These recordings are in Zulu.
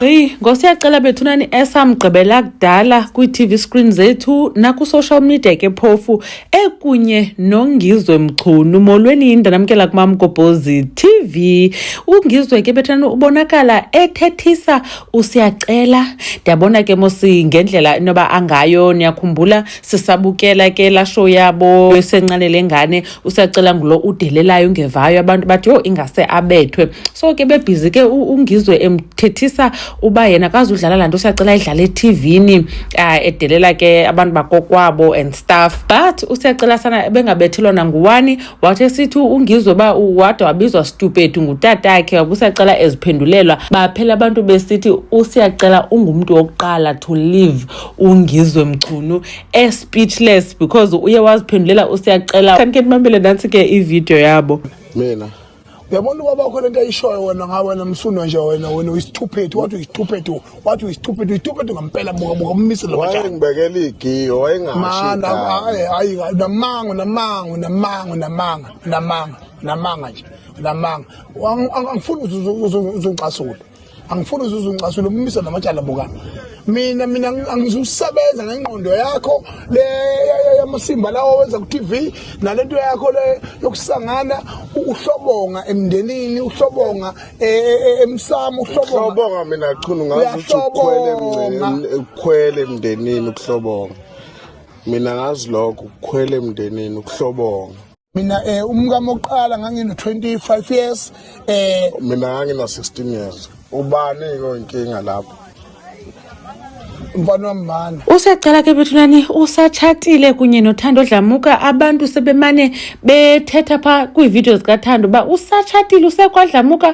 Gqi ngosiyacela bethu nani esamgqibela kudala kwi-TV screen zethu naku-social media ke phofu ekunye nongizwe mchunu molweni yinda namkela kumamgobhozi TV ungizwe ke bethani ubonakala ethethisa usiyacela ndiyabona ke mosi ngendlela inoba angayo niyakhumbula sisabukela ke la show yabo esenqanele ngane usiyacela ngulo udelelayo ungevayo abantu bathi yho ingase abethwe so ke bebhizi ke ungizwe emthethisa uba yena kazi udlala laa nto usiyacela idlala ethivini um ah, edelela ke abantu bakokwabo and stuff but usiyacela sana ebengabethelwa nanguwani wathi esithi ungizwe uba wade wabizwa stupid ngutatakhe wabusiyacela eziphendulelwa baphela abantu besithi usiyacela ungumntu wokuqala to live ungizwe mchunu e speechless because uye waziphendulela usiyacela kanti ke mamele nansi ke ivideo yabo mina uyabona ubaba wakho lento ayishoyo wena ngawe wena msuno nje wena wena uyisithuphethu wathi uyisithuphethu wathi uyisithuphethu uyisithuphethu ngampela buka buka umise lo wathi ngibekela igiyo wayengashi mana hayi hayi namango namango namango namanga namanga namanga nje namanga angifuni uzungicasule angifuni uze uzungicasule ummiso namatyala buka mina mina angizusebenza ngengqondo yakho le yamasimba lawo wenza ku-tv nale nto yakho le yokusangana uhlobonga emndenini uhlobonga e, e, e, emsamo uhlobonga mina chunu ngazi ukuthi ukhwele ukhwele emndenini ukuhlobonga mina ngazi lokho ukhwele emndenini ukuhlobonga mina eh umkami oqala ngangino 25 years eh mina ngangina 16 years ubani ke inkinga lapho mfana wamana usecela ke bethulani usatshatile kunye nothando dlamuka abantu sebemane bethetha pha kwiividiyo zikathando uba usatshatile usekwadlamuka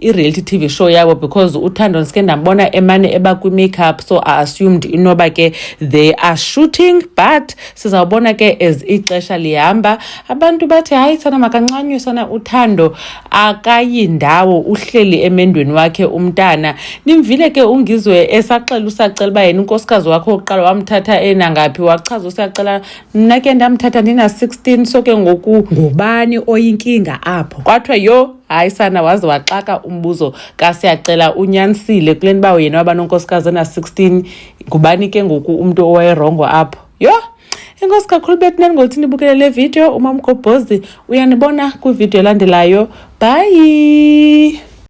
i-reality tv show yabo because uthando ndisike ndambona emane eba kwi-makeup so i assumed inoba ke they are shooting but sizawubona ke as ixesha lihamba abantu bathi hayi sana makancanywe sana uthando akayindawo uhleli emendweni wakhe umntana nimvile ke ungizwe esaxela usacela uba yena unkosikazi wakhe wokuqala wamthatha enangaphi wachaza usacela mna ke ndamthatha ndina-16 so ke ngoku ngubani oyinkinga apho kwathiwa yho hayi sana waze waxaka umbuzo kasiyacela unyanisile kule nto uba yena waba nonkosikazi ena-16 ngubani ke ngoku umntu owayerongo apho yho enkosi kakhulu betnan ngothi nibukele le video umamgobhozi uyanibona kwividiyo elandelayo bhayi